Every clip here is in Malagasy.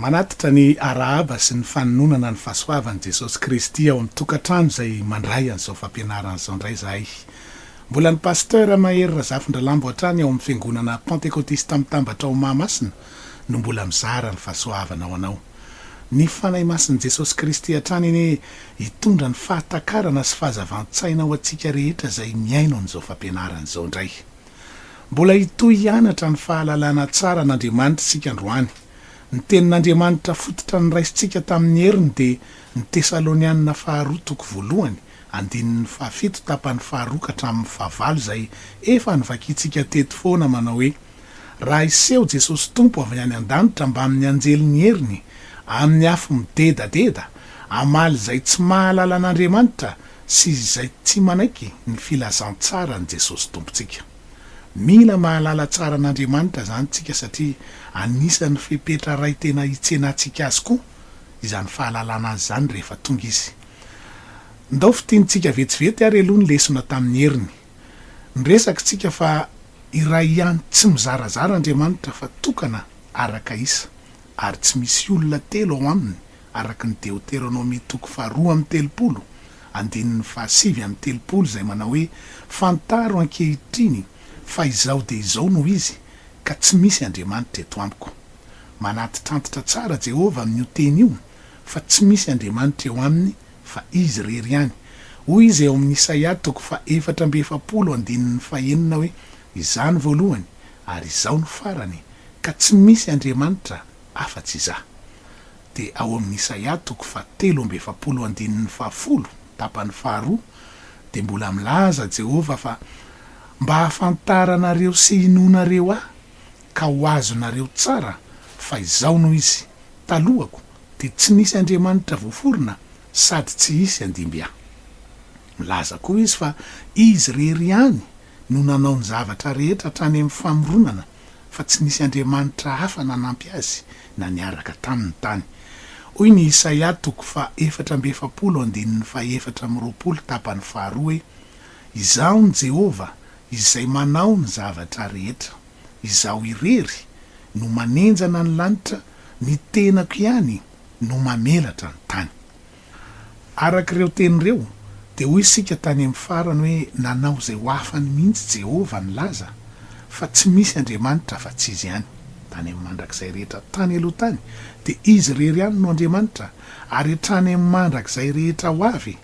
Manatitra ny arahaba sy ny fanononana ny fahasoavan'i Jesosy Kristy ao amin'ny tokantrano izay mandray an'izao fampianarana izao indray izahay. Mbola ny Pasteur Mahery Razafindralambo hatrany ao amin'ny Fiangonana Pantekotista Mitambatra ao Mahamasina no mbola mizara ny fahasoavana ho anao. Ny Fanahy Masin'i Jesosy Kristy hatrany anie hitondra ny fahatakarana sy fahazavan-tsaina ho antsika rehetra izay mihaino an'izao fampianarana izao indray. Mbola hitohy hianatra ny fahalalana tsara an'Andriamanitra isika androany. Ny tenin'Andriamanitra fototra noraisintsika tamin'ny heriny dia ny Tesalonianina faharoa toko voalohany, andininy fahafito tapany faharoa ka hatramin'ny fahavalo izay efa novakintsika teto foana manao hoe, Raha hiseho Jesosy Tompo avy any an-danitra mbamin'ny anjelin'ny heriny, amin'ny afo midedadeda, hamaly izay tsy mahalala an'Andriamanitra sy izay tsy manaiky ny filazantsaran'i Jesosy Tompontsika. Mila mahalala tsara an'Andriamanitra izany isika satria anisan'ny fepetra iray tena hitsenantsika azy koa izany fahalalana azy izany rehefa tonga izy. Ndao fintinitsika vetsivety ary aloha ny lesona tamin'ny heriny. Niresaka isika fa iray ihany tsy mizarazara Andriamanitra fa tokana araka isa ary tsy misy olona telo ao aminy araka ny Deoteronomia toko faharoa amby telopolo, andininy fahasivy amby telopolo izay manao hoe, Fantaro ankehitriny fa izao dia izao no izy, ka tsy misy andriamanitra eto amiko. Manantitrantitra tsara Jehovah amin'io teny io fa tsy misy andriamanitra eo aminy fa izy irery ihany. Hoy izy ao amin'ny Isaia toko fahefatra amby efapolo andininy fahenina hoe, Izany voalohany, ary izao no farany, ka tsy misy andriamanitra, afa-tsy izaho. Dia ao amin'ny Isaia toko fahatelo amby efapolo andininy fahafolo, tapany faharoa, dia mbola milaza Jehovah fa, Mba hahafantaranareo sy hinoanareo ahy, ka ho azonareo tsara fa izao no izy, Talohako dia tsy nisy andriamanitra voaforona sady tsy hisy handimby ahy. Milaza koa izy fa izy irery ihany no nanao ny zavatra rehetra hatrany amin'ny famoronana fa tsy nisy andriamanitra hafa nanampy azy na niaraka taminy tany. Hoy ny Isaia toko faha efatra amby efapolo andininy faha efatra amby roapolo tapany faharoa hoe, Izaho ny Jehovah, izay manao ny zavatra rehetra. Izaho irery no manenjana ny lanitra, ny tenako ihany no mamelatra ny tany. Araka ireo teny ireo, dia hoy isika tany amin'ny farany hoe nanao izay ho afany mihitsy Jehovah nilaza fa tsy misy Andriamanitra afa-tsy izy ihany. Tany amin'ny mandrakizay rehetra tany aloha tany, dia izy irery ihany no Andriamanitra, ary hatrany amin'ny mandrakizay rehetra ho avy,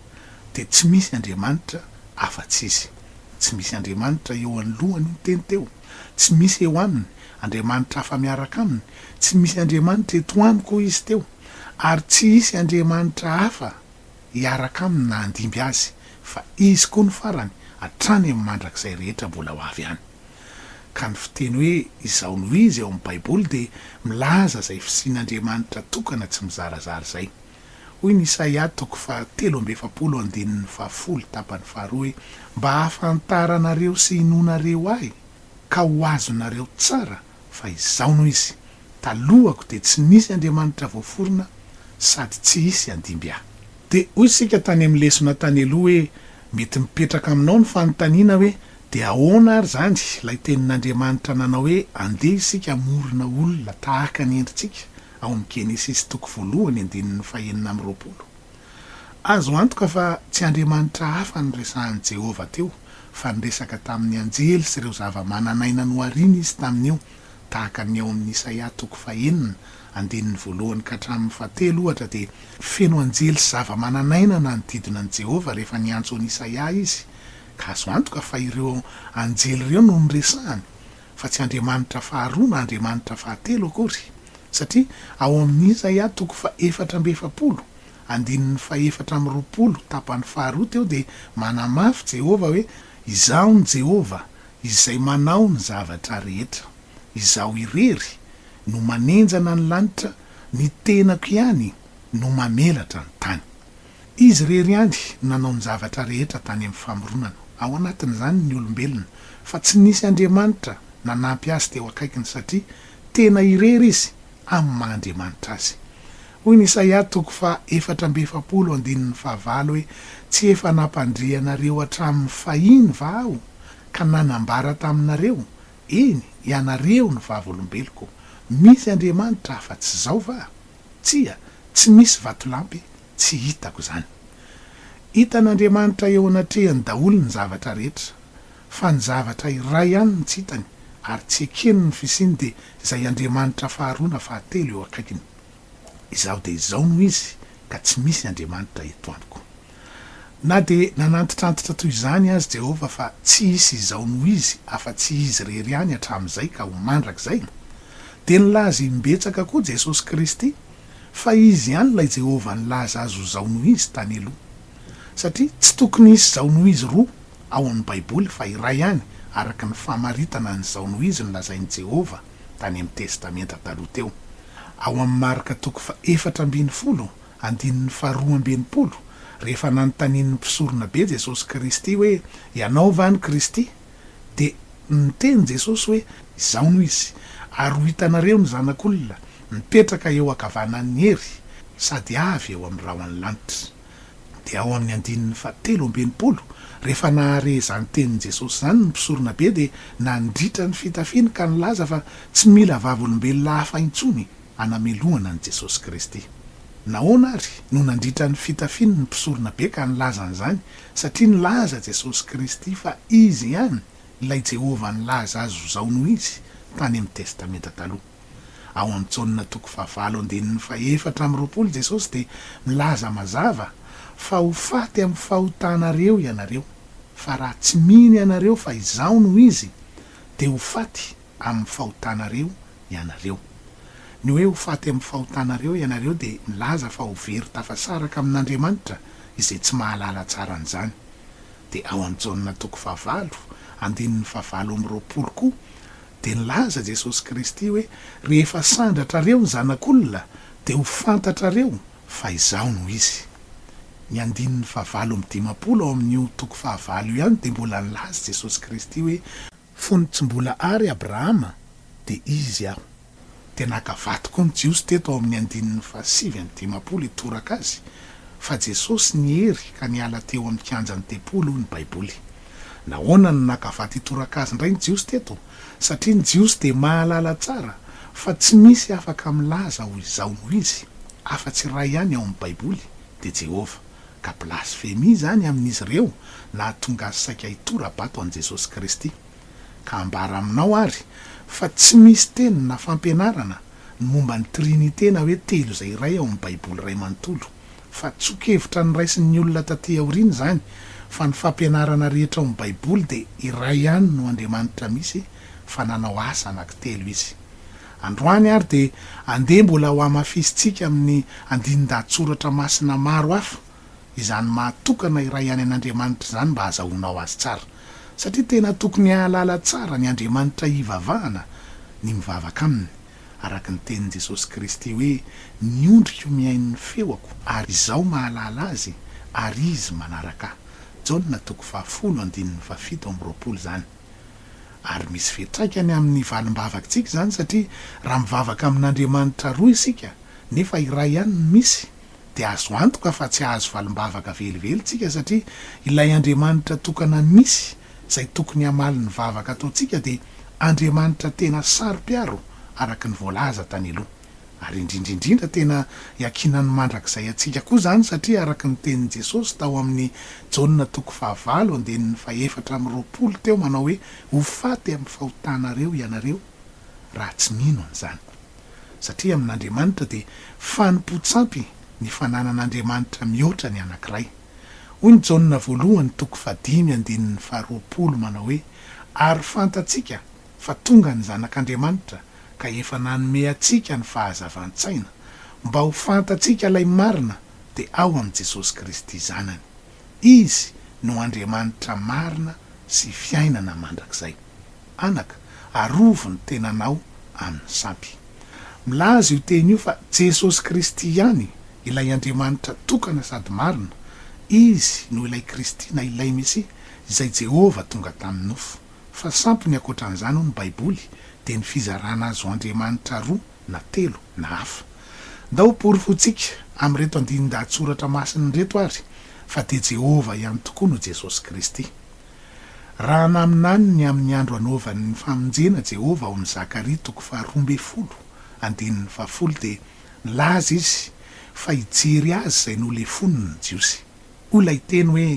dia tsy misy Andriamanitra afa-tsy izy. Tsy misy Andriamanitra eo anoloany ny teny teo. Tsy misy eo aminy Andriamanitra hafa miaraka aminy. Tsy misy Andriamanitra eto amiko, hoy izy teo. ary tsy hisy andriamanitra hafa hiaraka aminy na handimby azy, fa izy koa no farany hatrany amin'ny mandrakizay rehetra mbola ho avy any. Ka ny fiteny hoe izaho no izy ao amin'ny baiboly dia milaza izay fisian'andriamanitra tokana tsy mizarazara izay. Hoy ny Isaia toko faha telo amby efapolo andininy faha folo tapany faha roa hoe, Mba hahafantaranareo sy hinoanareo ahy, ka ho azonareo tsara Fa izao no izy, talohako dia tsy nisy Andriamanitra voaforona sady tsy hisy handimby ahy. Dia hoy isika tany amin'ny lesona tany aloha hoe mety mipetraka aminao ny fanontaniana hoe dia ahoana ary izany ilay tenin'Andriamanitra nanao hoe andeha isika hamorona olona tahaka ny endritsika ao amin'ny Genesisy toko voalohany andininy fahenina amby roapolo. Azo antoka fa tsy andriamanitra hafa no resahin'i Jehovah teo, fa niresaka tamin'ny anjely sy ireo zavamananaina nohariany izy tamin'io, tahaka ny ao amin'ny Isaia toko fahenina, andininy voalohany ka hatramin'ny fahatelo, ohatra, dia feno anjely sy zavamananaina nanodidina an'i Jehovah rehefa niantso an'i Isaia izy, ka azo antoka fa ireo anjely ireo no noresahiny. fa tsy Andriamanitra faharoa na Andriamanitra fahatelo akory, satria ao amin' Isaia toko fahefatra amby efapolo, andininy fahefatra amby roapolo tapany faharoa teo dia manamafy Jehovah hoe, Izaho no Jehovah, Izay manao ny zavatra rehetra. Izaho irery no manenjana ny lanitra, ny tenako ihany no mamelatra ny tany. Izy irery ihany no nanao ny zavatra rehetra tany amin'ny famoronana, ao anatin'izany ny olombelona, fa tsy nisy andriamanitra nanampy azy teo akaikiny satria tena irery izy amin'ny maha Andriamanitra azy. Hoy ny Isaia toko faha efatra amby efapolo andininy fahavalo hoe, Tsy efa nampandre anareo hatramin'ny fahiny va aho, ka nanambara taminareo, eny, ianareo ny vavolombeloko, misy andriamanitra afa-tsy Izao va? Tsia, tsy misy vatolampy tsy hitako izany. Hitan'Andriamanitra eo anatrehany daholo ny zavatra rehetra, fa ny zavatra iray ihany no tsy hitany ary tsy ekeny ny fisiany dia izay Andriamanitra faharoa na fahatelo eo akaikiny. Izaho dia izao no izy ka tsy misy Andriamanitra eto amiko. Na dia nanantitrantitra toy izany aza Jehovah fa tsy hisy izao noho izy afa-tsy izy irery ihany hatramin'izay ka ho mandrakizay, dia nilaza imbetsaka koa Jesosy Kristy fa izy ihany ilay Jehovah nilaza azy ho izao noho izy tany aloha. Satria tsy tokony hisy izao noho izy roa ao amin'ny Baiboly fa iray ihany araka ny famaritana ny izao noho izy nolazain'i Jehovah tany amin'ny Testamenta Taloha teo ao amin'ny Marka toko fahefatra ambin'ny folo Andininy faharoa amby enimpolo, Rehefa nanontanian'ny mpisoronabe Jesosy Kristy hoe, Ianao va ny Kristy? dia niteny Jesosy hoe, Izaho no Izy. Ary ho hitanareo ny Zanak'olona mipetraka eo ankavanan'ny hery sady avy eo amin'ny rahon'ny lanitra. Dia ao amin'ny andininy fahatelo amby enimpolo, Rehefa nahare izany tenin'i Jesosy izany ny mpisoronabe dia nandritra ny fitafiny ka nilaza fa tsy mila vavolombelona hafa intsony. hanamelohana an'i Jesosy Kristy. Nahoana àry no nandritra ny fitafiny ny mpisorona be ka nilaza an'izany? Satria nilaza Jesosy Kristy fa Izy ihany ilay Jehovah nilaza azy ho zao no izy, tany amin'ny Testamenta Taloha. Ao amin'ny Jaona toko fahavalo andininy fahefatra amby roapolo Jesosy dia milaza mazava fa ho faty amin'ny fahotanareo ianareo, fa raha tsy mino ianareo fa Izaho no Izy, dia ho faty. amin'ny fahotanareo ianareo. Ny hoe ho faty amin'ny fahotanareo ianareo dia milaza fa ho very tafasaraka amin'Andriamanitra izay tsy mahalala tsara an'izany. Dia ao amin'ny Jaona toko fahavalo, andininy fahavalo amby roapolo koa dia nilaza Jesosy Kristy hoe rehefa sandratrareo ny Zanak'olona dia ho fantatrareo fa izaho no izy. Ny andininy fahavalo amby dimampolo ao amin'io toko fahavalo io ihany dia mbola nilaza Jesosy Kristy hoe Fony tsy mbola àry Abrahama, dia Izy aho. Dia naka vato koa ny Jiosy teto ao amin'ny andininy fahasivy amby dimampolo hitoraka Azy fa Jesosy niery ka niala teo amin'ny kianjan'ny tempoly hoy ny Baiboly. Nahoana no naka vato hitoraka Azy indray ny Jiosy teto? Satria ny Jiosy dia mahalala tsara fa tsy misy afaka milaza ho izao noho Izy, afa-tsy iray ihany ao amin'ny Baiboly, dia Jehovah. ka blasfemia izany amin'izy ireo nahatonga azy saika hitora-bato an'i Jesosy Kristy. Ka ambara aminao àry fa tsy misy teny na fampianarana ny momba ny Trinite na hoe Telo izay iray ao amin'ny Baiboly iray manontolo, fa tsoa-kevitra noraisin'ny olona tatỳ aoriana izany fa ny fampianarana rehetra ao amin'ny Baiboly dia iray ihany no Andriamanitra misy fa nanao asa anankitelo Izy. Androany ary dia andeha mbola hohamafisintsika amin'ny andinin-dahatsoratra masina maro hafa izany maha tokana iray ihany an'Andriamanitra izany mba hazahoanao Azy tsara. Satria tena tokony hahalala tsara ny Andriamanitra hivavahana ny mivavaka Aminy, araka ny tenin'i Jesosy Kristy hoe, Ny ondriko mihaino ny feoko, ary Izaho mahalala azy, ary izy manaraka Ahy. Jaona toko fahafolo andininy fahafito amby roapolo izany. Ary misy fiantraikany amin'ny valim-bavakintsika izany satria raha mivavaka amin'Andriamanitra roa isika nefa iray ihany no misy dia azo antoka fa tsy hahazo valim-bavaka velively isika satria ilay Andriamanitra tokana misy izay tokony hamaly ny vavaka ataontsika dia Andriamanitra tena saro-piaro araka ny voalaza tany aloha. Ary indrindra indrindra tena iankinan'ny mandrakizay antsika koa izany satria araka ny tenin'i Jesosy tao amin'ny Jaona toko fahavalo andininy fahefatra amby roapolo teo manao hoe ho faty amin'ny fahotanareo ianareo raha tsy mino an'izany. Satria amin'Andriamanitra dia fanompoan-tsampy ny fananan'Andriamanitra mihoatra ny anankiray. Hoy ny Jaona voalohany toko fahadimy andininy faharoapolo manao hoe ary fantatsika fa tonga ny Zanak'Andriamanitra ka efa nanome antsika ny fahazavan-tsaina mba ho fantatsika ilay marina dia ao amin'i Jesosy Kristy Zanany. Izy no Andriamanitra marina sy fiainana mandrakizay. Anaka, arovy ny tenanao amin'ny sampy. Milaza io teny io fa Jesosy Kristy ihany ilay Andriamanitra tokana sady marina, Izy no ilay Kristy na ilay Mesia izay Jehovah tonga tamin'ny nofo. Fa sampy ny ankoatran'izany hoy ny baiboly dia ny fizarana azo Andriamanitra roa na telo na hafa. Ndao ho porofointsika amin'ireto andinin-dahatsoratra masina ireto ary fa dia Jehovah ihany tokoa no Jesosy Kristy. Raha naminany ny amin'ny andro anaovany ny famonjena Jehovah ao amin'ny Zakaria toko faharoa ambin'ny folo andininy fahafolo dia nilaza izy fa hijery azy izay nolefoniny ny Jiosy. hoy ilay teny hoe,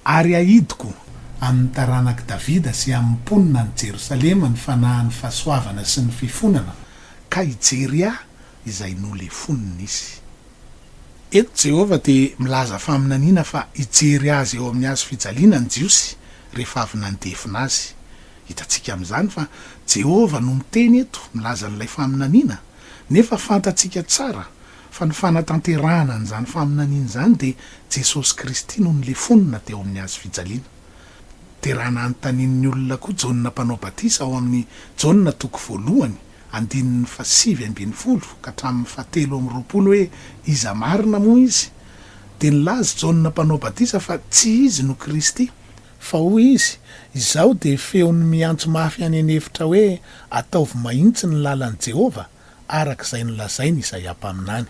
Ary hahidiko amin' ny taranak' i Davida sy amin' ny mponin' any Jerosalema ny fanahin' ny fahasoavana sy ny fifonana, ka hijery ahy izay nolefonin' izy. Eto Jehovah dia milaza faminaniana fa hijery azy eo amin' ny hazo fijaliana ny Jiosy rehefa avy nandefona azy. Hitantsika amin' izany fa Jehovah no miteny eto milaza an' ilay faminaniana, nefa fantatsika tsara fa ny fanatanterahana an'izany faminaniana izany dia Jesosy Kristy no nilefonina teo amin'ny hazo fijaliana. Dia raha nanontanian'ny olona koa Jaona Mpanao Batisa ao amin'ny Jaona toko voalohany andininy fahasivy ambin'ny folo ka hatramin'ny fahatelo amby roapolo hoe iza marina moa izy? dia nilaza Jaona Mpanao Batisa fa tsy izy no Kristy, fa hoy izy, Izaho dia feon'ny miantso mafy any an'efitra hoe, Ataovy mahitsy ny lalan'i Jehovah, araka izay nolazain' Izaia mpaminany.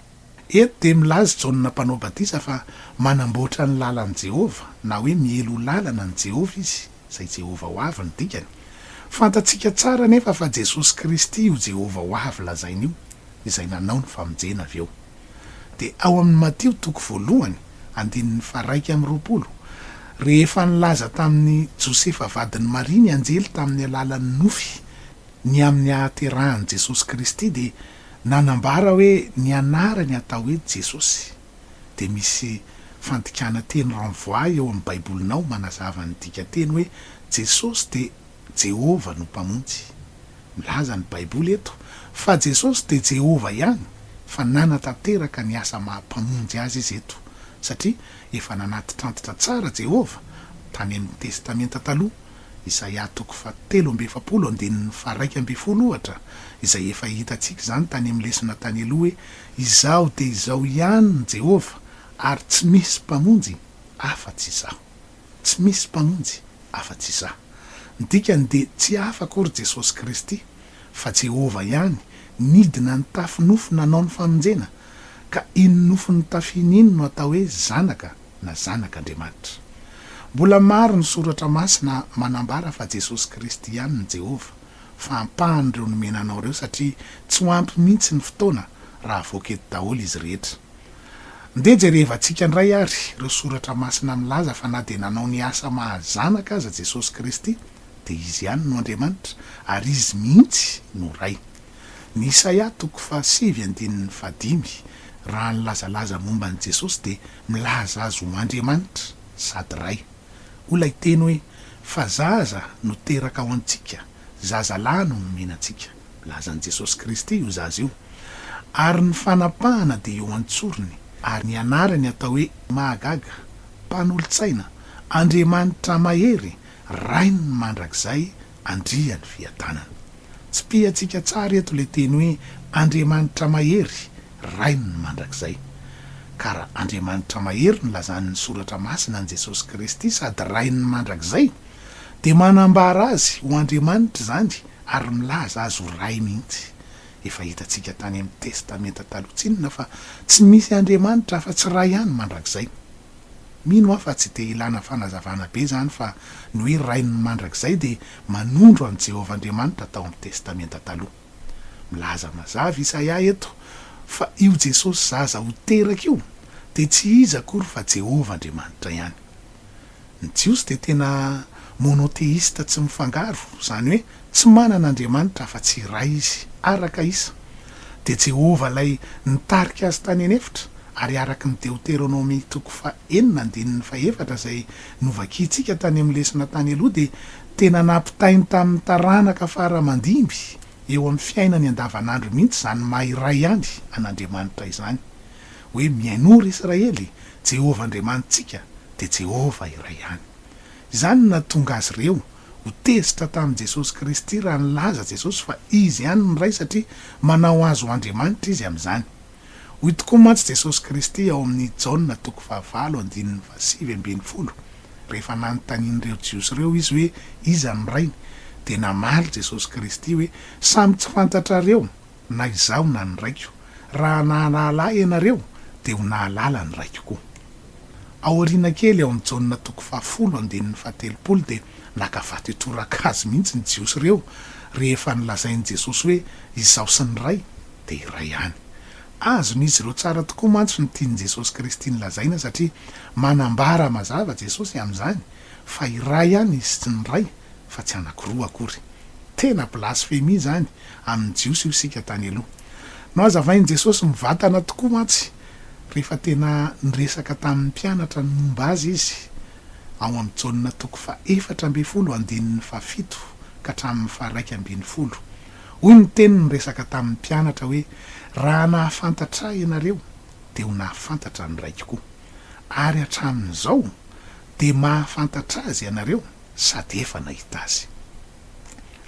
Eto dia milaza i Jaona Mpanao Batisa fa manamboatra ny lalan'i Jehovah, na hoe miely ho lalana an'i Jehovah izy, izay Jehovah ho avy no dikany. Fantatsika tsara anefa fa Jesosy Kristy io Jehovah ho avy lazaina io, izay nanao ny famonjena avy eo. Dia ao amin'ny Matio toko voalohany, andininy faharaika amby roapolo, rehefa nilaza tamin'i Josefa vadin'i Maria ny anjely tamin'ny alalan'ny nofy, ny amin'ny hahaterahan'i Jesosy Kristy dia nanambara hoe ny anarany atao hoe Jesosy dia misy fandikana teny renvoie eo amin'ny Baibolinao manazava ny dikanteny hoe Jesosy dia Jehovah no Mpamonjy. Milaza ny Baiboly eto fa Jesosy dia Jehovah ihany fa nanatanteraka ny asa maha Mpamonjy azy izy eto satria efa nanatitrantitra tsara Jehovah tany amin'ny Testamenta Taloha Isaia toko fahatelo amby efapolo andininy faharaika ambin'ny folo ohatra, izay efa hitantsika izany tany amin'ny lesona tany aloha hoe, Izaho dia izao ihany ny Jehovah, ary tsy misy mpamonjy afa-tsy izaho. Tsy misy mpamonjy afa-tsy izaho. Ny dikany dia tsy hafa akory Jesosy Kristy, fa Jehovah ihany, nidina nitafy nofo nanao ny famonjena. Ka iny nofo nitafiany iny no atao hoe zanaka. na Zanak' Andriamanitra. Mbola maro ny soratra masina manambara fa Jesosy Kristy ihany ny Jehovah, fa ampahany ireo nomena anao ireo satria tsy ho ampy mihitsy ny fotoana raha avoaka eto daholo izy rehetra. Ndeha jerevantsika indray ary ireo soratra masina milaza fa na dia nanao ny asa maha Zanaka aza Jesosy Kristy dia Izy ihany no Andriamanitra ary Izy mihitsy no Ray. Ny Isaia toko fahasivy andininy fahadimy, raha nilazalaza momba an'i Jesosy, dia milaza azy ho Andriamanitra sady Ray. Hoy ilay teny hoe, Fa zaza no teraka ho antsika, zaza lahy no nomenantsika. Milaza an'i Jesosy Kristy io zaza io. Ary ny fanapahana dia eo an-tsorony. Ary ny anarany atao hoe Mahagaga, Mpanolo-tsaina, Andriamanitra Mahery, Rain'ny mandrakizay Andria ny fiadanana. Tsipihantsika tsara eto ilay teny hoe Andriamanitra mahery, Rain' ny mandrakizay. Ka raha Andriamanitra mahery no lazan' ny Soratra Masina an'i Jesosy Kristy sady Rain' ny mandrakizay, dia manambara Azy ho Andriamanitra izany ary milaza Azy ho Ray mihitsy. Efa hitantsika tany amin'ny Testamenta Taloha tsinona fa tsy misy Andriamanitra afa-tsy Ray ihany mandrakizay. Mino aho fa tsy dia ilana fanazavana be izany fa ny hoe Rain'ny mandrakizay dia manondro an'i Jehovah Andriamanitra tao amin'ny Testamenta Taloha. Milaza mazava Isaia eto fa io Jesosy zaza ho teraka io dia tsy iza akory fa Jehovah Andriamanitra ihany. Ny Jiosy dia tena monotheista tsy mifangaro, izany hoe Tsy manana Andriamanitra afa-tsy iray izy, araka isa, dia Jehovah ilay nitarika azy tany an'efitra, ary araka ny Deoteronomia toko faha enina andininy faha efatra izay novakiantsika tany amin'ny lesona tany aloha dia tena nampitainy tamin'ny taranaka faramandimby eo amin'ny fiainany andavanandro mihitsy izany maha iray ihany an'Andriamanitra izany hoe mihainoa ry Israely, Jehovah Andriamanitsika dia Jehovah iray ihany. Izany no nahatonga azy ireo Ho tezitra tamin'i Jesosy Kristy raha nilaza Jesosy fa Izy ihany ny Ray satria manao azy ho Andriamanitra Izy amin'izany. Hoy tokoa mantsy Jesosy Kristy ao amin'ny Jaona toko fahavalo andininy fahasivy ambin'ny folo, rehefa nanontanian'ireo Jiosy ireo Izy hoe iza ny Rainy, dia namaly Jesosy Kristy hoe, Samy tsy fantatrareo? na izaho na ny Raiko, raha nahalala Ahy ianareo, dia ho nahalala ny Raiko koa. Ao aoriana kely, ao amin'ny Jaona toko fahafolo, andininy fahatelopolo, dia naka vato hitoraka Azy mihitsy ny Jiosy ireo, rehefa nolazain'i Jesosy hoe, Izaho sy ny Ray dia iray ihany. Azon'izy ireo tsara tokoa mantsy ny tian'i Jesosy Kristy nolazaina, satria manambara mazava Jesosy amin'izany, fa iray ihany izy sy ny Ray fa tsy anakiroa akory. Tena blasfemie izany amin'ny Jiosy io isika tany aloha. Nohazavain'i Jesosy mivantana tokoa mantsy rehefa tena niresaka tamin'ny mpianatra ny momba Azy Izy ao amin'i Jaona toko fahaefatra ambin'ny folo andininy fahafito ka hatramin'ny faharaika ambin'ny folo. Hoy ny Teniny niresaka tamin'ny mpianatra hoe, Raha nahafantatra Ahy ianareo dia ho nahafantatra ny Raiko koa. Ary hatramin'izao Dia mahafantatra Azy ianareo sady efa nahita Azy.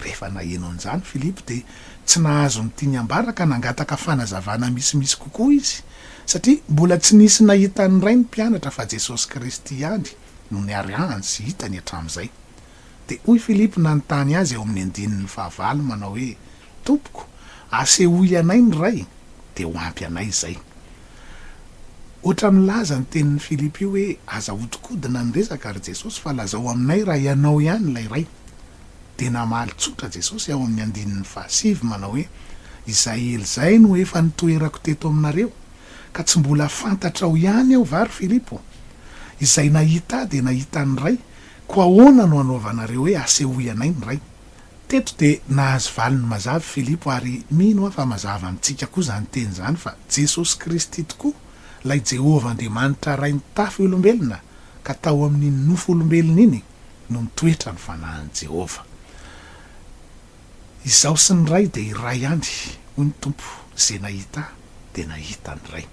Rehefa naheno an'izany Filipo dia tsy nahazo ny tiany hambara ka nangataka fanazavana misimisy kokoa izy, satria mbola tsy nisy nahita an'ny Ray ny mpianatra fa Jesosy Kristy ihany no niarahany sy hitany hatramin'izay. Dia hoy Filipo nanontany Azy ao amin'ny andininy fahavalo manao hoe, Tompoko, asehoy anay ny Ray, dia ho ampy anay izay. Hoatra milaza ny tenin'i Filipo io hoe, Aza ahodikodina ny resaka, ry Jesosy, fa lazao aminay raha Ianao ihany ilay Ray. Dia namaly tsotra Jesosy ao amin'ny andininy fahasivy manao hoe, Izay ela izay no efa nitoerako teto aminareo, ka tsy mbola fantatrao ihany Aho va, ry Filipo? Izay nahita Ahy dia nahita ny Ray, koa ahoana no hanaovanareo hoe, Asehoy anay ny Ray? Teto dia nahazo valiny mazava i Filipo ary mino aho fa mazava amintsika koa izany teny izany fa Jesosy Kristy tokoa ilay Jehovah Andriamanitra Ray nitafy olombelona ka tao amin'iny nofo olombelona iny no nitoetra ny Fanahin'i Jehovah. Izaho sy ny Ray dia iray ihany, hoy ny Tompo, izay nahita ahy. dia nahita ny Ray.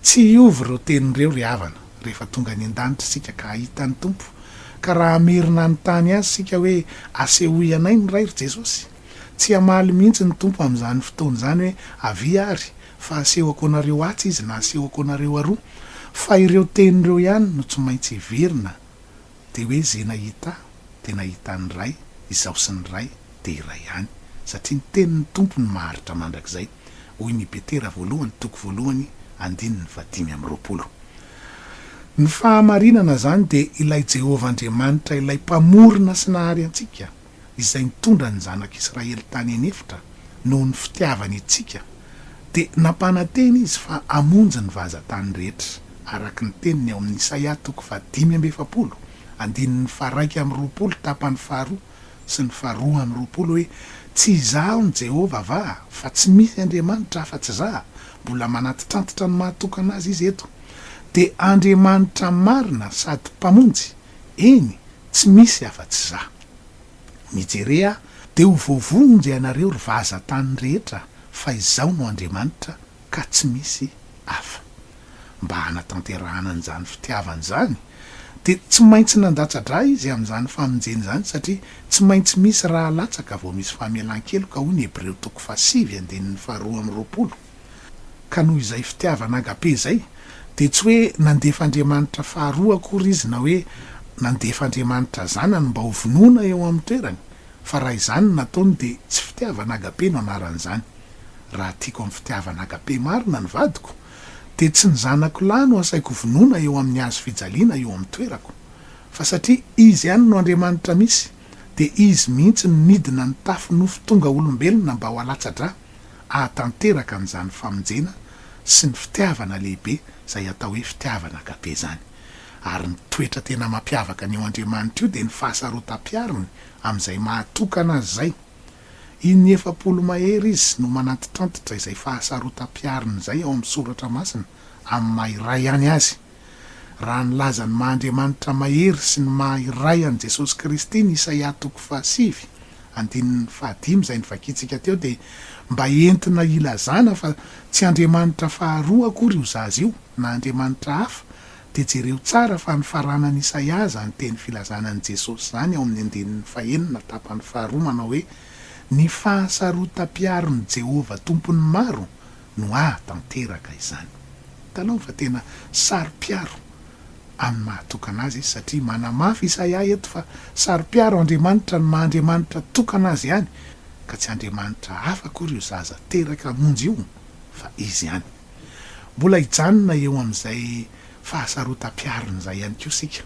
Tsy hiova ireo teny ireo, ry havana, rehefa tonga any an-danitra isika ka hahita ny Tompo, ka raha hamerina hanontany Azy isika hoe asehoy anay ny Ray, ry Jesosy. Tsy hamaly mihitsy ny Tompo amin'izany fotoana izany hoe, Avia àry, fa hasehoko anareo atsy Izy na hasehoko anareo aroa. Fa ireo teny ireo ihany no tsy maintsy hiverina, dia hoe izay nahita Ahy dia nahita ny Ray, Izaho sy ny Ray dia iray ihany, satria ny tenin'ny Tompo no maharitra mandrakizay. Hoy ny Petera voalohany toko voalohany andininy fahadimy amby roapolo. Ny fahamarinana izany dia ilay Jehovah Andriamanitra ilay Mpamorona sy Nahary antsika, izay nitondra ny zanak'Israely tany an'efitra noho ny fitiavany antsika, dia nampanantena izy fa hamonjy ny vazan-tany rehetra, araka ny teniny ao amin'ny Isaia toko fahadimy amby efapolo andininy faharaika amby roapolo tapany faharoa. sy ny faharoa amby roapolo hoe, Tsy izaho no Jehovah va? Fa tsy misy Andriamanitra afa-tsy izaho. Mbola manantitrantitra ny maha tokana azy izy eto. Dia Andriamanitra marina sady Mpamonjy, eny, tsy misy afa-tsy izaho. Mijere aho, dia ho voavonjy ianareo, ry vazan-tany rehetra, fa izaho no Andriamanitra, ka tsy misy hafa. Mba hanatanterahana an'izany fitiavany izany dia tsy maintsy nandatsa-dra izy amin'izany famonjena izany satria tsy maintsy misy ra alatsaka vao misy famelan-keloka hoy ny Hebreo toko fahasivy andininy faharoa amby roapolo. Ka noho izay fitiavana agape izay dia tsy hoe nandefa Andriamanitra faharoa akory izy na hoe nandefa Andriamanitra Zanany mba ho vonoina eo amin'ny toerany Fa raha izany no nataony dia tsy fitiavana agape no anaran'izany. Raha tiako amin'ny fitiavana agape marina ny vadiko, dia tsy ny zanako lahy no asaiko hovonoina eo amin'ny hazo fijaliana eo amin'ny toerako. Fa satria Izy ihany no Andriamanitra misy, dia Izy mihitsy no nidina nitafy nofo tonga olombelona mba ho alatsa-drà, ahatanteraka an'izany famonjena sy ny fitiavana lehibe izay atao hoe fitiavana agape izany. Ary ny toetra tena mampiavaka an'io Andriamanitra io dia ny fahasarotam-piariny amin'izay maha-tokana azy izay. In'ny efapolo mahery izy no manantitrantitra izay fahasarotam-piariny izay ao amin'ny Soratra Masina amin'ny maha-iray ihany azy. Raha nilaza ny maha-Andriamanitra mahery sy ny maha-iray an'i Jesosy Kristy ny Isaia toko fahasivy, andininy fahadimy izay novakiantsika teo dia mba entina hilazana fa tsy andriamanitra faharoa akory io zaza io na andriamanitra hafa Dia jereo tsara fa ny faranan'i Isaia izany teny filazana an'i Jesosy izany ao amin'ny andininy fahenina tapany faharoa manao hoe, Ny fahasarotam-piaron'i Jehovah Tompon'ny maro no hahatanteraka izany. Hitalaho fa tena saro-piaro amin'ny maha-tokana azy izy, satria manamafy Isaia eto fa saro-piaro Andriamanitra ny maha-Andriamanitra tokana azy ihany, ka tsy andriamanitra hafa akory io zaza teraka hamonjy io fa izy ihany. Mbola hijanona eo amin'izay fahasarotam-piariny izay ihany koa isika.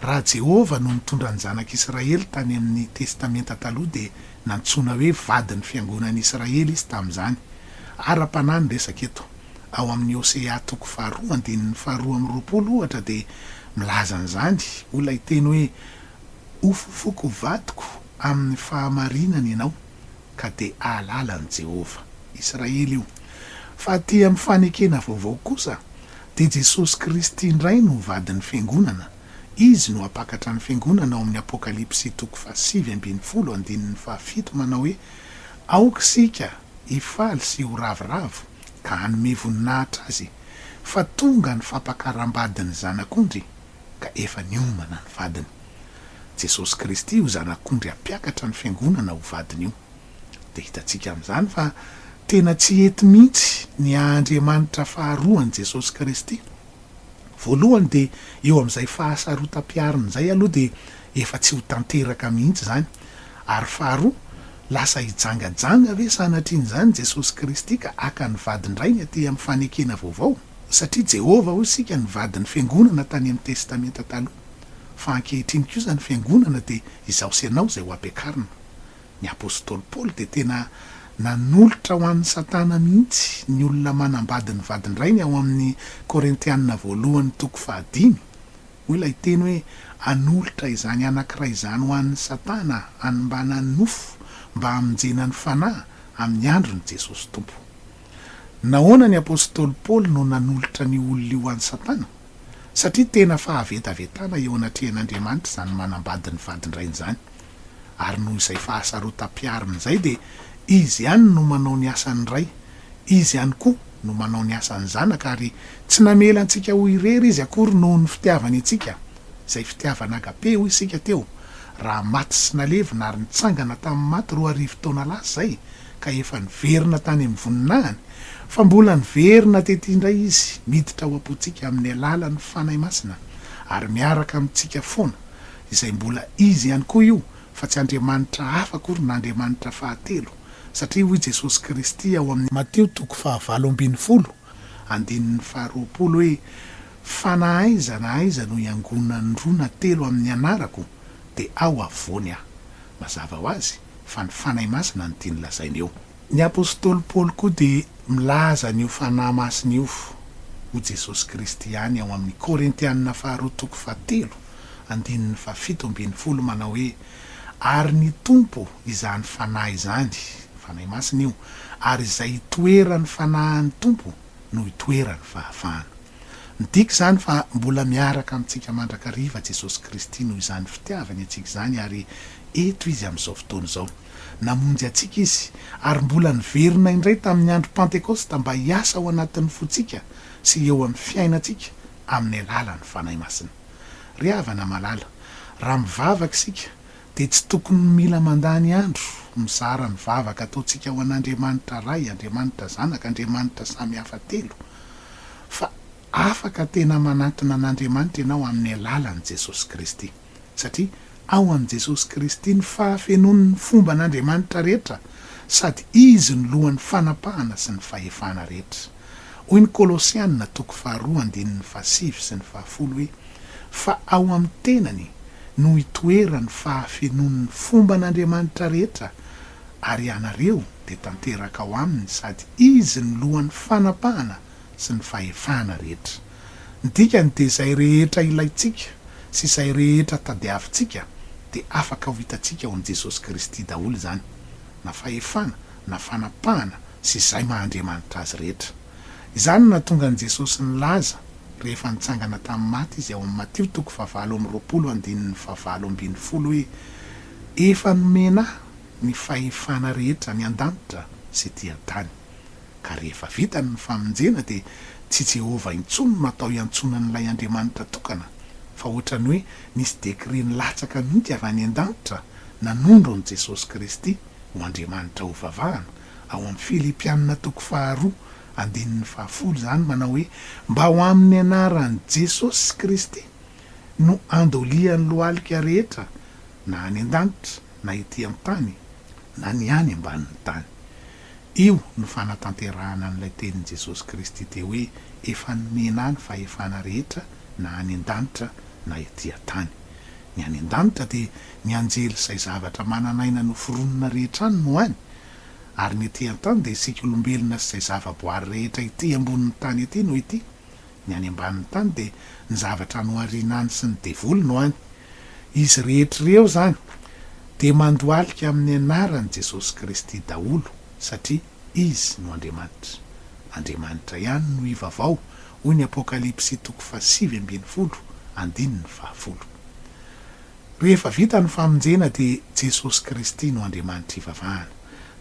Raha Jehovah no nitondra ny Zanak'Israely tany amin'ny Testamenta Taloha, dia nantsoina hoe vadin'ny fiangonan'Israely izy tamin'izany. Ara-panahy ny resaka eto. Ao amin'ny Hosea toko faharoa andininy faharoa amby roapolo, ohatra, dia milaza an'izany ho ilay teny hoe, Hofofoko vadiko amin'ny fahamarinana ianao. ka dia hahalala an'i Jehovah. Israely io. Fa aty amin'ny fanekena vaovao kosa, dia Jesosy Kristy indray no Vadin'ny Fiangonana, Izy no hampakatra ny Fiangonana ao amin'ny Apokalypsy toko fahasivy ambin'ny folo andininy fahafito manao hoe, Aoka isika hifaly sy ho ravoravo, ka hanome voninahitra azy, fa tonga ny fampakaram-badin'ny Zanak'ondry, ka efa niomana ny vadiny. Jesosy Kristy io Zanak'ondry hampiakatra ny Fiangonana ho vadiny io. Dia hitantsika amin'izany fa tena tsy hety mihitsy ny haha-Andriamanitra faharoa an'i Jesosy Kristy. Voalohany dia eo amin'izay fahasarotam-piariny izay aloha dia efa tsy ho tanteraka mihitsy izany. Ary faharoa, lasa hijangajanga ve sanatrian'izany Jesosy Kristy ka haka ny vadin-drainy aty amin'ny fanekena vaovao? Satria Jehovah, hoy isika, nivady ny fiangonana tany amin'ny Testamenta Taloha, fa ankehitriny kosa ny fiangonana dia izaho sy ianao izay hoampiakarina. Ny apostoly Paoly dia tena nanolotra ho an'i Satana mihitsy ny olona manambady ny vadin-drainy ao amin'ny Korintiana Voalohany toko fahadimy. Hoy ilay teny hoe hanolotra izany anankiray izany ho an'i Satana hanimbanan'ny nofo mba hamonjena ny fanahy amin'ny andron'i Jesosy Tompo. Nahoana ny apostoly Paoly no nanolotra an'io olona io ho an'i Satana? Satria tena fahavetavetana eo anatrehan'Andriamanitra izany manambady ny vadin-drainy izany. Ary noho izay fahasarotam-piariny izay dia izy ihany no manao ny asan'ny ray, izy ihany koa no manao ny asan'ny zanaka ary tsy namela antsika ho irery izy akory noho ny fitiavany antsika, izay fitiavana agape hoy isika teo, raha maty sy nalevina ary nitsangana tamin'ny maty roa arivo taona lasa izay, ka efa niverina tany amin'ny voninahiny, fa mbola niverina tety indray izy, miditra ao am-pontsika amin'ny alalan'ny Fanahy Masina, ary miaraka amintsika foana, izay mbola izy ihany koa io, fa tsy andriamanitra hafa akory na andriamanitra fahatelo, satria hoy Jesosy Kristy ao amin'ny. Matio toko fahavalo ambin'ny folo, andininy faharoapolo hoe, Fa na aiza na aiza no iangonan'ny roa na telo amin'ny anarako, dia ao afovoany aho. Mazava ho azy fa ny Fanahy Masina no tiany lazaina eo. Ny apostoly Paoly koa dia milaza an'io Fanahy Masina io ho Jesosy Kristy ihany ao amin'ny Korintiana faharoa toko fahatelo andininy fahafito ambin'ny folo manao hoe, Ary ny Tompo izany Fanahy izany, Fanahy Masina io, ary izay itoeran'ny Fanahin'ny Tompo no itoeran'ny fahafahana. Midika izany fa mbola miaraka amintsika mandrakariva Jesosy Kristy noho izany fitiavany antsika izany ary eto Izy amin'izao fotoana izao. Namonjy antsika Izy ary mbola niverina indray tamin'ny andro Pantekosta mba hiasa ao anatin'ny fontsika sy eo amin'ny fiainantsika amin'ny alalan'ny Fanahy Masina. Ry havana malala, raha mivavaka isika, dia tsy tokony mila mandany andro mizara ny vavaka ataontsika ho an'Andriamanitra Ray, Andriamanitra Zanaka, Andriamanitra samy hafa telo, fa afaka tena manantona an'Andriamanitra ianao amin'ny alalan'i Jesosy Kristy, satria ao amin'i Jesosy Kristy ny fahafenoan'ny fomban'Andriamanitra rehetra, sady Izy no lohan'ny fanapahana sy ny fahefana rehetra. Hoy ny Kolosiana toko faharoa andininy fahasivy sy ny fahafolo hoe, Fa ao amin'ny tenany no hitoeran'ny fahafenoan'ny fomban'Andriamanitra rehetra, ary ianareo dia tanteraka ao aminy sady izy no lohan'ny fanapahana sy ny fahefana rehetra. Ny dikany dia izay rehetra ilaintsika sy izay rehetra tadiavintsika dia afaka ho hitantsika ao amin'i Jesosy Kristy daholo izany, na fahefana na fanapahana sy izay maha Andriamanitra azy rehetra. Izany no nahatonga an'i Jesosy nilaza rehefa nitsangana tamin'ny maty izy ao amin'ny Matio toko fahavalo amby roapolo andininy fahavalo ambin'ny folo hoe, Efa nomena ahy ny fahefana rehetra any an-danitra sy ety an-tany. Ka rehefa vita ny famonjena dia tsy Jehovah intsony no atao iantsoana an'ilay Andriamanitra tokana fa ohatran'ny hoe nisy décret nilatsaka mihitsy avy any an-danitra nanondro an'i Jesosy Kristy, ho Andriamanitra hovavahana, ao amin'ny Filipianina toko faharoa andininy fahafolo izany manao hoe, Mba ho amin'ny anaran'i Jesosy Kristy no andolian'ny lohalika rehetra na any an-danitra na ety an-tany na ny any ambanin'ny tany. Io no fanatanterahana an'ilay tenin'i Jesosy Kristy teo hoe, Efa nomena ahy ny fahefana rehetra na any an-danitra na ety an-tany. Ny any an-danitra dia ny anjely izay zavatra manan'aina noforonina rehetra any no any, ary ny ety an-tany dia isika olombelona sy izay zava-boary rehetra ety ambonin'ny tany ety no ety, ny any ambanin'ny tany dia ny zavatra nohariana any sy ny devoly no any. Izy rehetra ireo izany dia mandohalika amin'ny anaran'i Jesosy Kristy daholo satria Izy no Andriamanitra. Andriamanitra ihany no hivavao hoy ny Apokalypsy toko fahasivy ambin'ny folo andininy fahafolo. Rehefa vita ny famonjena dia Jesosy Kristy no Andriamanitra ivavahana.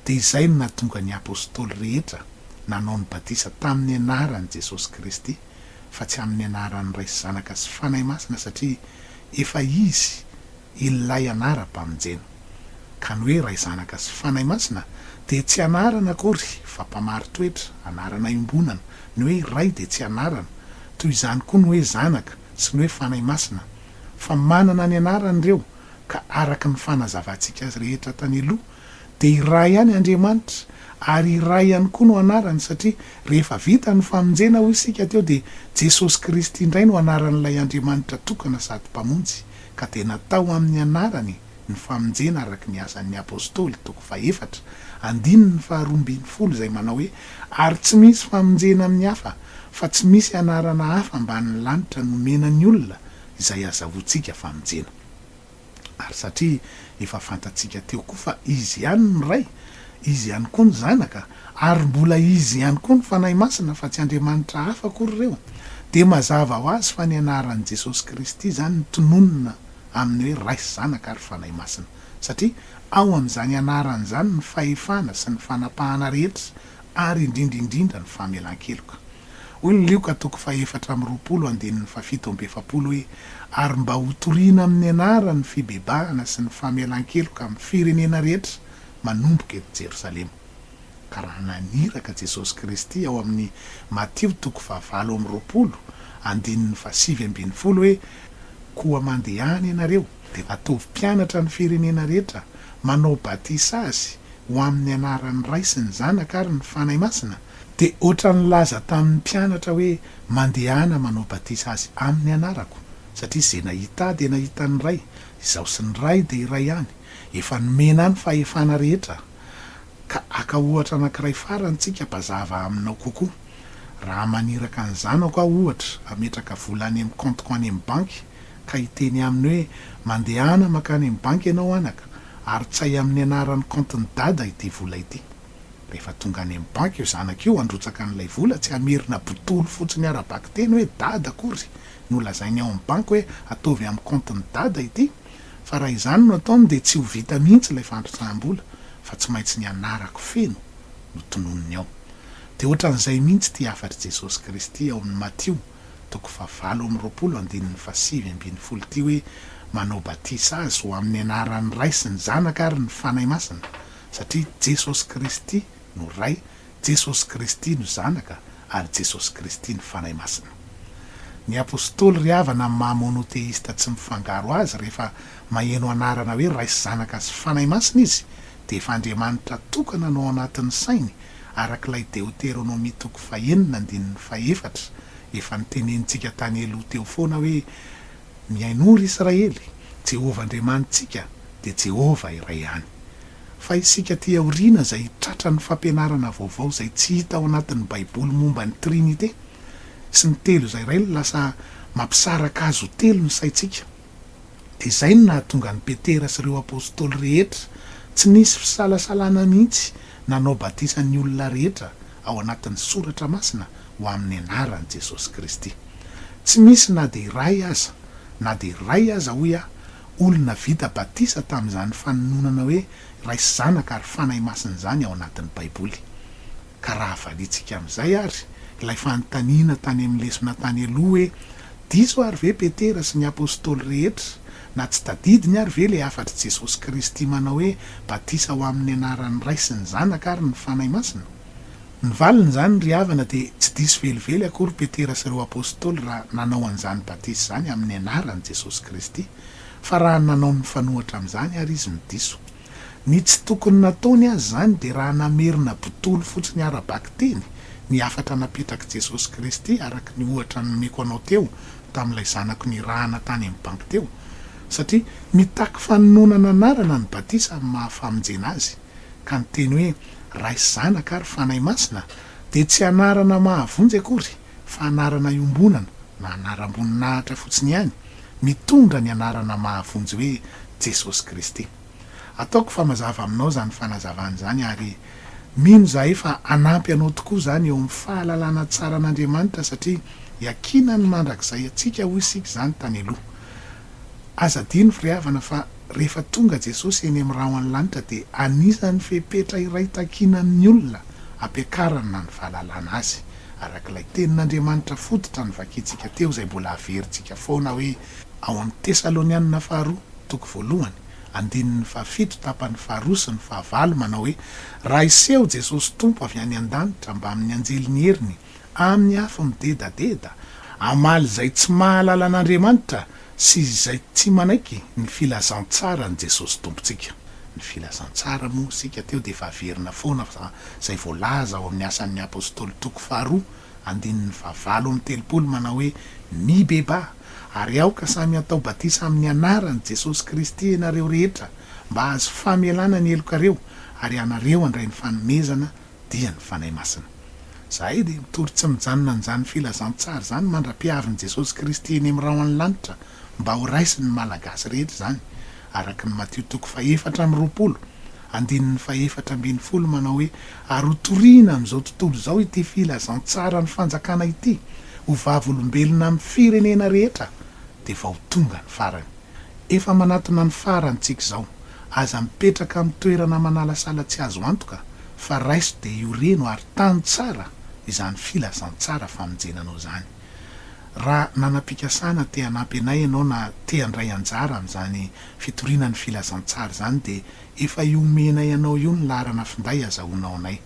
Dia izay no nahatonga ny Apostoly rehetra nanao ny batisa tamin'ny anaran'i Jesosy Kristy fa tsy amin'ny anaran'ny Ray sy Zanaka sy Fanahy Masina satria efa Izy Ilay anaram-pamonjena. Ka ny hoe Ray Zanaka sy Fanahy Masina dia tsy anarana akory fa mpamaritoetra, anarana iombonana, ny hoe Ray dia tsy anarana, toy izany koa ny hoe Zanaka sy ny hoe Fanahy Masina fa manana ny anarany ireo ka araka ny fanazavantsika azy rehetra tany aloha dia iray ihany Andriamanitra ary iray ihany koa no anarany satria rehefa vita ny famonjena hoy isika teo dia Jesosy Kristy indray no anaran'ilay Andriamanitra tokana sady Mpamonjy ka dia natao amin'ny anarany Ny famonjena araka ny Asan' ny Apôstôly, toko fahefatra, andininy faharoa ambin'ny folo, izay manao hoe, Ary tsy misy famonjena amin'ny hafa, fa tsy misy anarana hafa ambanin' ny lanitra nomena ny olona izay azahoantsika famonjena. Ary satria efa fantatsika teo koa fa Izy ihany ny Ray, Izy ihany koa ny Zanaka, ary mbola Izy ihany koa ny Fanahy Masina fa tsy andriamanitra hafa akory ireo, dia mazava ho azy fa ny anaran'i Jesosy Kristy izany no tononina amin'ny hoe Ray sy Zanaka ary Fanahy Masina, satria ao amin'izany anarany izany ny fahefana sy ny fanapahana rehetra ary indrindra indrindra ny famelan-keloka. Hoy ny Lioka toko fahefatra amby roapolo andininy fahafito amby efapolo hoe, Ary mba hotorina amin'ny anarany ny fibebahana sy ny famelan-keloka amin'ny firenena rehetra manomboka eto Jerosalema. Ka raha naniraka Jesosy Kristy ao amin'ny Matio toko fahavalo amby roapolo, andininy fahasivy ambin'ny folo hoe, Koa mandehana ianareo, dia ataovy mpianatra ny firenena rehetra, manao batisa azy ho amin'ny anaran'ny Ray sy ny Zanaka ary ny Fanahy Masina, dia hoatran'ny nilaza tamin'ny mpianatra hoe, Mandehana manao batisa azy amin'ny anarako, satria izay nahita ahy dia nahita ny Ray, izaho sy ny Ray dia iray ihany. Efa nomena ahy ny fahefana rehetra. Ka aka ohatra anankiray farany tsika mba zava aminao kokoa. Raha maniraka ny zanako aho ohatra hametraka vola any amin'ny compte-ko any amin'ny banky ka hiteny aminy hoe mandehana makany amin'ny banky ianao anaka ary tsay amin'ny anaran'ny compte-n'i dada ity vola ity. Rehefa tonga any amin'ny banky io zanaka io handrotsaka an'ilay vola tsy hamerina botolo fotsiny ara-bakiteny hoe dada akory no lazainy ao amin'ny banky hoe ataovy amin'ny compte-n'i dada ity Fa raha izany no ataony dia tsy ho vita mihitsy ilay fandrotsaham-bola fa tsy maintsy ny anarako feno no tononiny ao. Dia ohatran'izay mihitsy ity hafatr'i Jesosy Kristy ao amin'ny Matio toko fahavalo amby roapolo andininy fahasivy ambin'ny folo ity hoe, Manao batisa azy ho amin'ny anaran'ny Ray sy ny Zanaka ary ny Fanahy Masina, satria Jesosy Kristy no Ray Jesosy Kristy no Zanaka ary Jesosy Kristy no Fanahy Masina. Ny Apostoly ry havana amin'ny maha monotheista tsy mifangaro azy rehefa maheno anarana hoe Ray sy Zanaka sy Fanahy Masina izy dia efa Andriamanitra tokana no ao anatin'ny sainy araka ilay Deoteronomia toko fahenina andininy fahefatra efa notenenintsika tany eloha teo foana hoe Mihainoa ry Israely, Jehovah Andriamanitsika dia Jehovah iray ihany. Fa isika aty aoriana izay hitratra ny fampianarana vaovao izay tsy hita ao anatin'ny Baiboly momba ny Trinite sy ny Telo izay Ray no lasa mampisaraka Azy ho Telo ny saintsika. Dia izay no nahatonga an'i Petera sy ireo Apostoly rehetra tsy nisy fisalasalana mihitsy nanao batisa ny olona rehetra ao anatin'ny Soratra Masina ho amin'ny anaran'i Jesosy Kristy. Tsy misy na dia iray aza, na dia iray aza, hoy aho, olona vita batisa tamin'izany fanononana hoe Ray sy Zanaka ary Fanahy Masina izany ao anatin'ny Baiboly. Ka raha avalintsika amin'izay àry ilay fanontaniana tany amin'ny lesona tany aloha hoe, Diso àry ve Petera sy ny Apostoly rehetra Na tsy tadidiny ary ve ilay hafatr'i Jesosy Kristy manao hoe batisa ho amin'ny anaran'ny Ray sy ny Zanaka ary ny Fanahy Masina? Ny valin'izany ry havana dia tsy diso velively akory Petera sy ireo Apostoly raha nanao an'izany batisa izany amin'ny anaran'i Jesosy Kristy, fa raha nanao ny mifanohitra amin'izany ary izy no diso. Ny tsy tokony nataony aza izany dia raha namerina botolo fotsiny ara-bakiteny ny hafatra napetrak'i Jesosy Kristy araka ny ohatra nomeko anao teo tamin'ilay zanako nirahana tany amin'ny banky teo, satria mitaky fanononana anarana ny batisa amin'ny maha famonjena azy, ka ny teny hoe Ray sy Zanaka ary Fanahy Masina dia tsy anarana mahavonjy akory fa anarana iombonana na anaram-boninahitra fotsiny ihany mitondra ny anarana mahavonjy hoe Jesosy Kristy. Ataoko fa mazava aminao izany fanazavana izany ary mino izahay fa hanampy anao tokoa izany eo amin'ny fahalalana tsara an'Andriamanitra satria iakinany mandrakizay antsika hoy isika izany tany aloha. Aza adino ry havana fa rehefa tonga Jesosy eny amin'ny rahon'ny lanitra dia anisan'ny fepetra iray takiana amin'ny olona hampiakarany na ny fahalalana Azy, araka ilay tenin'Andriamanitra fototra novakintsika teo izay mbola averintsika foana hoe ao amin'ny Tesalonianina faharoa, toko voalohany, andininy fahafito tapany faharoa sy ny fahavalo manao hoe, Raha hiseho Jesosy Tompo avy any an-danitra mbamin'ny anjeliny heriny amin'ny afo midedadeda, hamaly izay tsy mahalala an'Andriamanitra sy izay tsy manaiky ny filazantsaran'i Jesosy Tompontsika. Ny filazantsara moa isika teo dia efa averina foana fa izay voalaza ao amin'ny Asan'ny Apostoly toko faharoa andininy fahavalo amby telopolo manao hoe, Mibebaha, ary aoka samy hatao batisa amin'ny Anaran'i Jesosy Kristy ianareo rehetra mba hahazo famelana ny helokareo, ary ianareo handray ny fanomezana dia ny Fanahy Masina. Izahay dia mitory tsy mijanona an'izany filazantsara izany mandra-piavin'i Jesosy Kristy eny amin'ny rahon'ny lanitra mba ho raisin'ny Malagasy rehetra izany araka ny Matio toko fahefatra amby roapolo, andininy fahefatra ambin'ny folo manao hoe ary ho toriana amin'izao tontolo izao ity filazantsaran'ny fanjakana ity ho vavolombelona amin'ny firenena rehetra dia vao tonga ny farany. Efa manatona ny farantsika izao. Aza mipetraka amin'ny toerana manalasala tsy azo antoka fa raiso dia io reno ary tano tsara izany filazantsara famonjena anao izany. Raha nanam-pikasana te hanampy anay ianao na te handray anjara amin'izany fitoriana ny filazantsara izany dia efa iomenay anao io ny laharana finday azahoanao anay.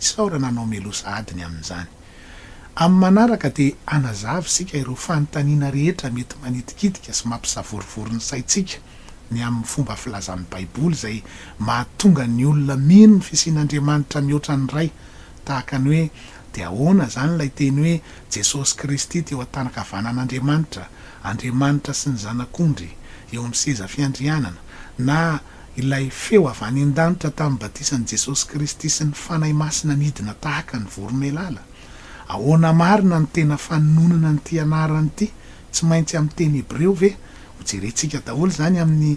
Isaorana anao Melosa adiny amin'izany. Amin'ny manaraka dia hanazava isika ireo fanontaniana rehetra mety manitikitika sy mampisavorovoro ny saintsika ny amin'ny fomba filazan'ny Baiboly izay mahatonga ny olona mino ny fisian'Andriamanitra mihoatra ny Ray, tahaka ny hoe, Dia ahoana izany ilay teny hoe Jesosy Kristy teo an-tanan-kavanan'Andriamanitra, Andriamanitra sy ny Zanak'ondry eo amin'ny seza fiandrianana, na, ilay feo avy any an-danitra tamin'ny batisan'i Jesosy Kristy sy ny Fanahy Masina nidina tahaka ny voromailala. Ahoana marina no tena fanononana an'ity anarana ity, tsy maintsy amin'ny teny hebreo ve? Hojerentsika daholo izany amin'ny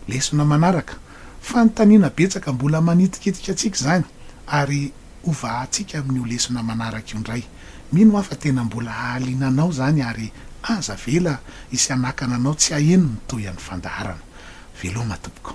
lesona manaraka. Fanontaniana betsaka mbola manitikitika antsika izany, ary hovahantsika amin'io lesona manaraka io indray. Mino aho fa tena mbola hahaliana anao izany ary aza avela hisy hanakana anao tsy haheno ny tohian'ny fandaharana. Veloma tompoko.